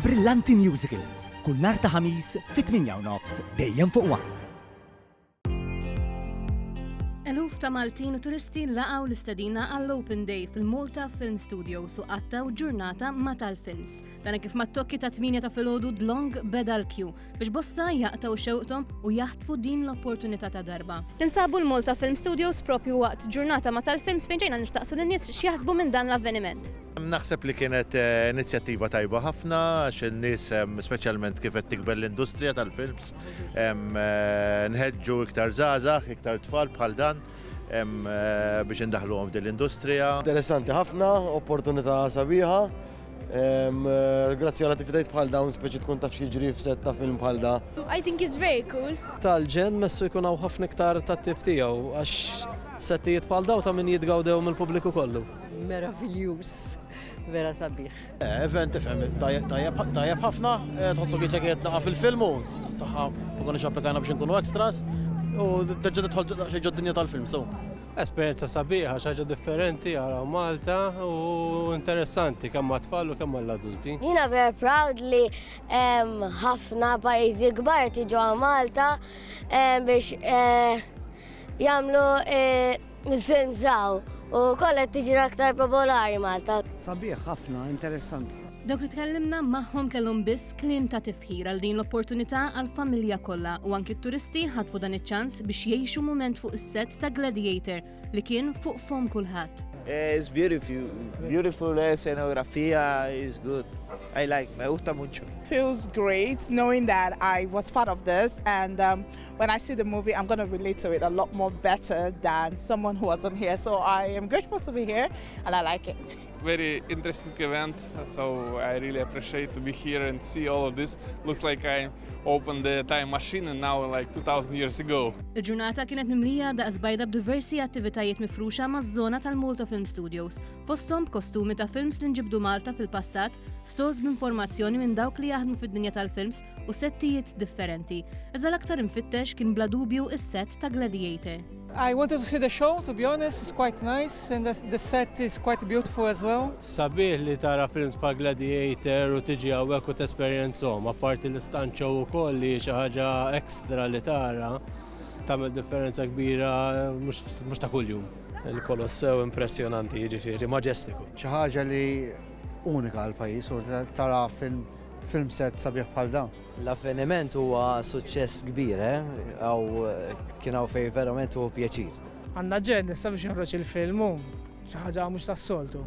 Brillanti Musicals, kull nhar ta' Ħamis fit-tmienja u nofs, dejjem fuq One. Eluf ta' Maltin u turisti laqgħu l-istedina għall-Open Day fil-Malta Film Studio su qattaw ġurnata ma' tal-films. Dan kif mat-tokki ta' 8 ta' filgħodu dlong beda l-kju biex bosta jaqtaw xewqtom u jaħtfu din l-opportunità ta' darba. Insabu l-Malta Film Studios propju waqt ġurnata ma' tal-films fejn ġejna nistaqsu lin-nies x'jaħsbu minn dan l-avveniment. Naħseb li kienet eh, inizjattiva tajba ħafna għax in-nies speċjalment kif qed tikber l-industrija tal-films eh, nħeġġu iktar żgħażagħ, iktar tfal bħal dan eh, biex indaħluhom f'din l-industrija. Interessanti ħafna, opportunità sabiħa. Grazzi għal attivitajt bħal dawn speċi tkun taf jiġri f'set ta' film bħal da. I think it's very cool. Tal-ġen messu jkun hawn ħafna iktar tat-tip tiegħu għax settijiet bħal daw ta' min jitgawdew mill-pubbliku kollu. Meraviljuż, vera sabiħ. Eh, event tifhem, tajjeb ħafna, eh, tħossu kisek qed naqa' fil-film u saħħa ma konniex applikajna biex inkunu extras u terġa' tidħol xi ġod-dinja tal-film sew. Esperjenza sabiħa, xaġa differenti għal Malta u interessanti kemm għat-tfal u kemm għall-adulti. Jina very proud li ħafna pajjiżi kbar tiġu għal Malta biex eh, jagħmlu Il-film żaw u wkoll qed tiġi aktar popolari Malta. Sabiħ ħafna, interessanti. Dawk li tkellimna magħhom kellhom biss kliem ta' tifħir għal din l-opportunità għall-familja kollha u anki t-turisti ħatfu dan iċ-ċans biex jgħixu mument fuq is-set ta' Gladiator li kien fuq fom kulħadd. Eh, it's beautiful, beautiful eh, scenografia is good. I like, me gusta mucho. Feels great knowing that I was part of this and um, when I see the movie, I'm going to relate to it a lot more better than someone who wasn't here. So I am grateful to be here and I like it. Very interesting event. So I really appreciate to be here and see all of this. Looks like I opened the time machine and now like 2000 years ago. Il-ġurnata kienet mimlija daqs bajda b'diversi attivitajiet mifruxa maż-żona tal-Malta Film Studios, fosthom b'kostumi ta' films li nġibdu Malta fil-passat, stores b'informazzjoni minn dawk li jaħdmu fid-dinja tal-films u settijiet differenti, iżda l-aktar imfittex kien bla dubju is-set ta' Gladiator. I wanted to see the show, to be honest, it's quite nice and the set is quite beautiful as well. Sabiħ li tara films pa' Gladiator u tiġi għawek u t-esperienzom, apparti l-istanċo u koll li xaħġa ekstra li tara, tamil differenza kbira mux ta' kull-jum. Il-Kolossew impressionanti, ġifiri, maġestiku. ċaħġa li unika għal-pajis u tara film Film set sabiħ bħal dan. L-avveniment huwa suċċess kbir, għaw eh? kien hawn fejn verament huwa pjaċir. Għandna ġed nista' biex joħroġ il-film hu xi ħaġa mhux tas-soltu.